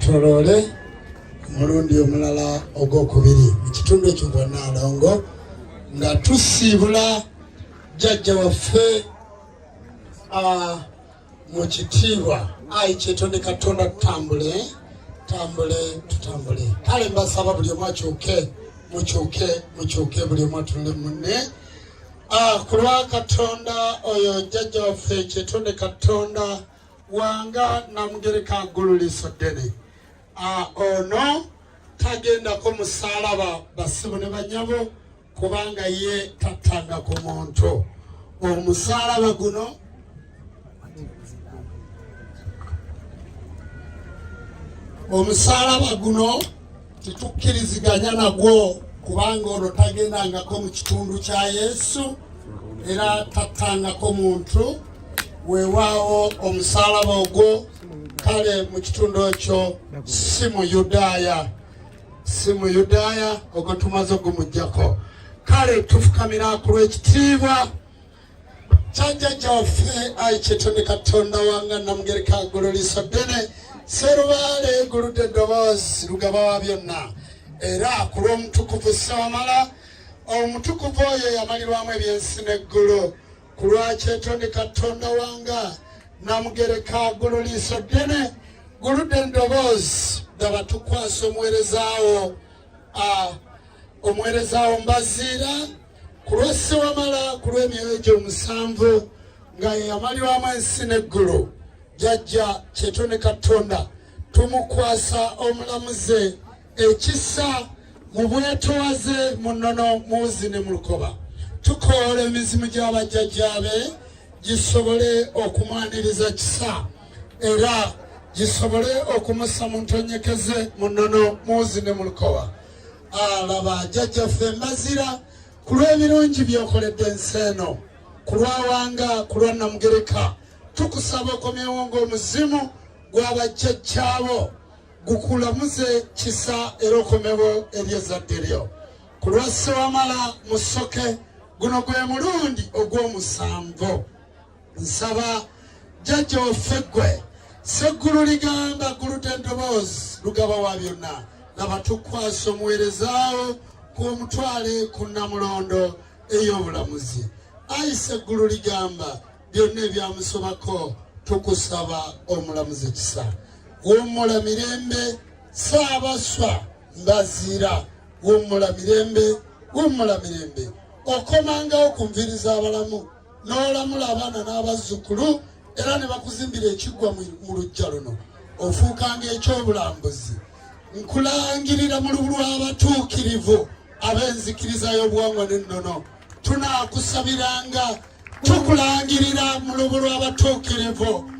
Toloole omulundi omulala ogwokubiri mu kitundu ekyo bonna alongo nga tusiibula jjajja waffe mu kitiibwa ayi kyetonde katonda tutambule tutambule tutambule kale mbasaba buli omu akyuke mukyuke mukyuke buli omu atunule munne ah, ku lwa katonda oyo jjajja waffe kyetonde katonda wanga namugereka agululiso ddene ono tagendako musalaba basibu ne banyabo kubanga ye tattanga ku muntu omusalaba guno omusalaba guno Tetukkiriziganya nagwo kubanga olwo tagendangako mu kitundu kya Yesu era tattangako muntu weewaawo omusalaba ogwo kale mu kitundu ekyo si mu Yudaaya si mu Yudaaya ogwo tumaze ogumujjako kale tufukamira ku lw'ekitiibwa Jjajjajja waffe ayi kyetonde Katonda wanga namugereka ggulu liiso ddene serubaale eguludde eddoboozi lugaba wa byonna era ku lw'omutukuvu ssewamala omutukuvu oyo yamalirwamu ebyensi n'eggulu ku lwa kyetonde Katonda wanga namugereka ggulu liiso ddene guludde eddoboozi daba tukwasa omuweerezaawo omuweerezaawo mbaziira ku lwa ssewamala ku lw'emyoyo egyo omusanvu nga yeyamalirwamu ensi n'eggulu jajja kyeto ne katonda tumukwasa omulamuze ekisa mu bwetowaze mu nnono muwuzi ne mu lukoba tukoola emizimu gy'abajjajjaabe gisobole okumwaniriza kisa era gisobole okumusa mu ntonyekeze mu nnono muwuzi ne mu lukoba alaba jajja ffe mazira ku lw'ebirungi byokoledde ensi eno ku lwawanga ku lwa namugereka tukusaba okomyewo ng'omuzimu gw'abajjajjaabo gukulamuze kisa era okomewo eri ezadde lyo ku lwa ssewamala musoke guno gwe mulundi ogw'omusanvu nsaba jjajja waffe ggwe seggulu ligamba guluta endoboozi lugaba wa byonna laba tukwasa omuweerezaawo ku omutwale ku nnamulondo ey'obulamuzi ayi seggulu ligamba byonna ebyamusobako tukusaba omulamuzi kisa wummula mirembe saabaswa mbaziira wummula mirembe wummula mirembe okomangawo ku nviri z'abalamu n'olamula abaana n'abazzukulu era ne bakuzimbira ekiggwa mu lujja luno ofuukanga ekyobulambuzi nkulangirira mu lubu lw'abatuukirivu ab'enzikiriza y'obuwangwa n'ennono tunaakusabiranga tukulangirira mu lubu lw'abatuukirivu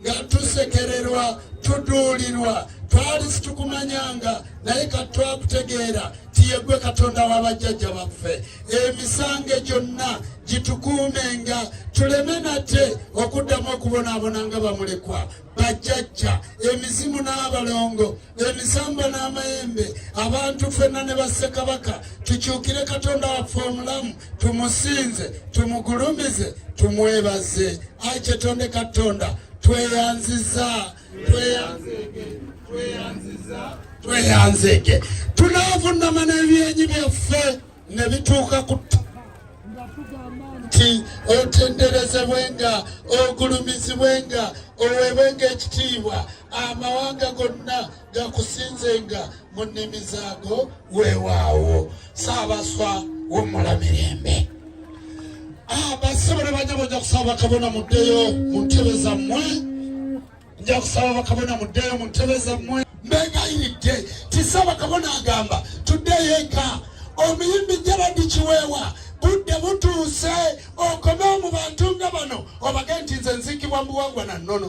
nga tusekererwa tuduulirwa twali situkumanyanga naye ka twakutegeera tiyegwe katonda wa bajjajja baffe emisange gyonna gitukuumenga tuleme nate okuddamu okubonaabona nga bamulekwa bajjajja emizimu n'abalongo emisamba n'amayembe abantu fenna ne bassekabaka tukyukire katonda waffe omulamu tumusinze tumugulumize tumwebaze ayi kyetonde katonda tweyanziza tweyanzege tunavunama n'ebyenyi byaffe ne bituuka ku nti otenderezebwenga ogulumizibwenga owebwenga ekitiibwa amawanga gonna gakusinzenga mu nnimi zaago weewaawo saabaswa wumula mirembe abasibale ah, banyabo nja kusaba bakabona muddeyo mu ntebe zammwe nja kusaba bakabona muddeyo mu ntebe zammwe mbegayiridde tisa bakabona agamba tuddeyo eka omuyimbi jaradi kiweewa budde butuuse okomewo mu bantu nga bano obage nti nze nziikibwa mu buwangwa na nnono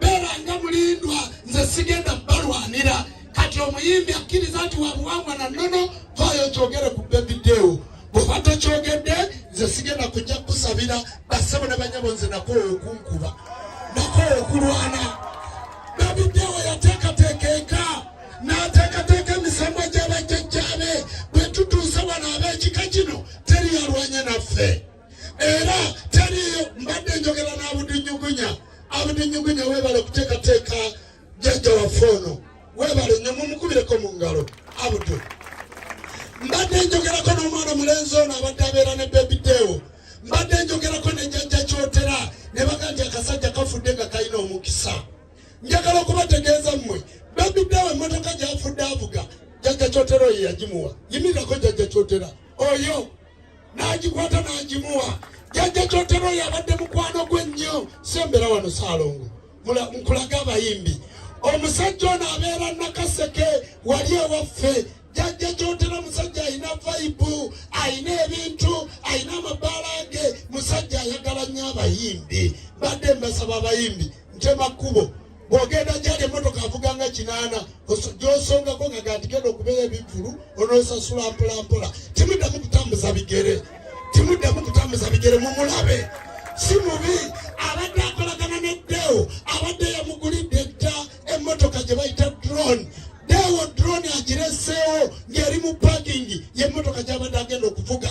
beera nga mulindwa nze sigenda balwanira kati omuyimbi akkiriza nti wabuwangwa na nono vayo kyogere ku bebidewo bwoba tokyogedde nze sigenda kujja kukusabira basebo ne banyabo nze nakowa okunkuba nakowa okulwana bebidewo yateekateeka eka n'ateekateeka emisambwa gy'abajjajjaabe bwe tutuuse wano ab'ekika kino teri yalwanye naffe era taliyo mbadde njogera n'abudinyugunya abudinyugunya webale okuteekateeka jajja waffe ono webale nyo mumukubireko mu ngalo abudu mbadde njogerako n'omwana mulenzi ono abadde abeera ne bebideewo mbadde njogerako ne jajja kyotera ne baga nti akasajja kafudde nga kalina omukisa njagala okubategeeza mmwe bebideewo emmotoka gyafudde avuga jajja kyotera oyo yagimuwa yimirirako jajja kyotera oyo n'agikwata n'agimuwa jajja kyotero yabadde mukwano gwe nnyo sembera wano saalongo nkulage abayimbi omusajja ono abeera nakaseke wali ewaffe jajja kyotero omusajja alina vaibu alina ebintu alina amabaala ge musajja ayagala nnyo abayimbi badde mbasaba abayimbi ntema kkubo bwogenda njala emotoka avuga nga kinaana gyosongako nga gandigenda okubeera ebivulu onosasula mpolampola timuddamu kutambuza bigere timuddamu kutambuza bigere mumulabe si mubi abadde akolagana ne deo abadde yamugulidde dda emotoka gye bayita drone deo drone agireseewo ng'eri mu pakingi yemotoka gyabadde agenda okuvuga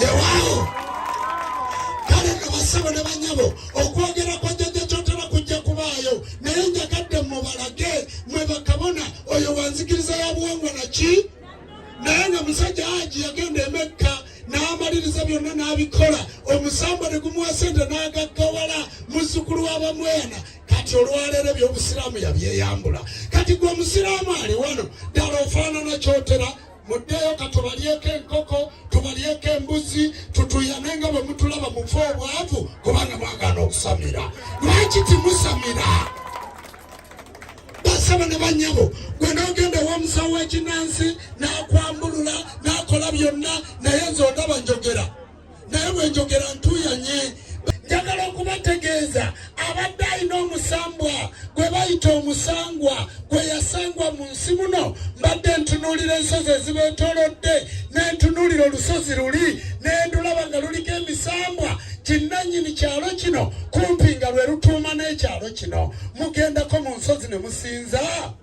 Lewaawo kale nno basebo ne banyabo okwogera kwa jjajja kyotera kujja kubaayo naye njagadde mubalage mwe bakabona oyo wanzikiriza ya buwangwa naki naye nga musajja aji yagenda emekka n'amaliriza byonna n'abikola omusamba ne gumuwa sente n'agaggawala muzzukulu w'abamwena kati olwaleero ebyobusiraamu yabyeyambula kati gwe omusiraamu ali wano ddala ofaanana kyotera muddeeyo katubalyeko enkoko tubalyeko embuzi tutuyane nga bwe mutulaba mufa obwavu kubanga mwagaana okusamira lwaki timusamira basaba ne banyabo gwe nogenda womusawo wekinansi nakwambulula nakola byonna naye nze ondaba njogera naye bwenjogera ntuyanye njagala okubategeeza abadde alina omusambwa gwe bayita omusangwa gwe yasangwa mu nsi muno mbadde ntunuulira ensozi ezibeetolodde nentunuulira olusozi luli nendulaba nga luliko emisambwa kinnanyini kyalo kino kumpi nga lwe lutuuma n'ekyalo kino mugendako mu nsozi ne musinza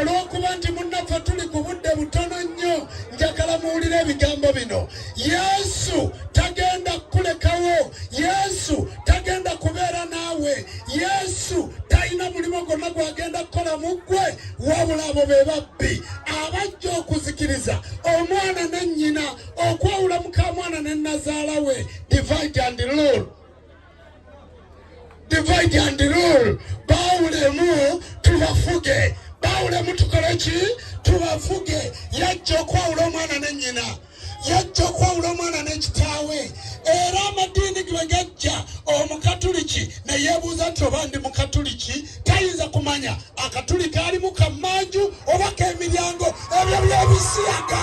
olw'okuba nti munnaffe tuli ku budde butono nnyo njagala muwulire ebigambo bino yesu tagenda kukulekawo yesu tagenda kubeera naawe yesu talina mulimu gwonna gwagenda kukola mu ggwe wabula abo be babbi abajja okuzikiriza omwana ne nnyina okwawula mukamwana ne nazaala we divide and rule divide and rule bawulemu tubafuge bawulemu tukole ki tubafuge yajja okwawula omwana ne nyina yajja okwawula omwana n'ekitaawe era amadiini ge gajja omukatuliki neyebuuza nti oba ndi mukatuliki tayinza kumanya akatuliki alimu kamanju oba kemiryango ebyo byebisiyaga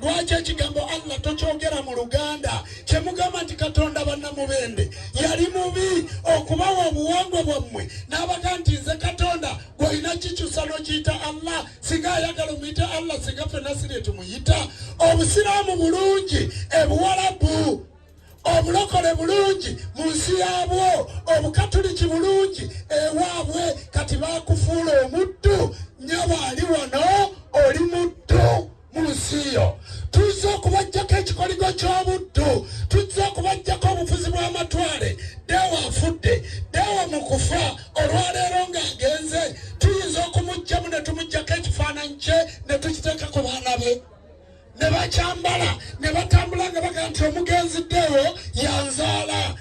lwaki ekigambo allah tokyogera mu luganda kyemugamba nti katonda bannamubende yali mubi okubawa obuwangwa bwammwe n'abaga nti nze katonda gwolina kikyusa nokiyita allah singa ayagala omuyita allah singa fenasiri etumuyita obusiraamu bulungi ebuwalabu obulokole bulungi mu nsi yaabwo obukatuliki bulungi ewaabwe kati bakufuula omuddu nyabo ali wano oli muddu mu nsi yo tuzze okubajjako ekikoligo ky'obuddu tuzze okubajjako obufuzi bw'amatwale deewa afudde deewa mu kufa olwaleero ng'agenze tuyinza okumugjamu ne tumuggyako ekifaananyi kye ne tukiteeka ku baana be ne bakyambala ne batambula nga baga nti omugenzi deewo yanzaala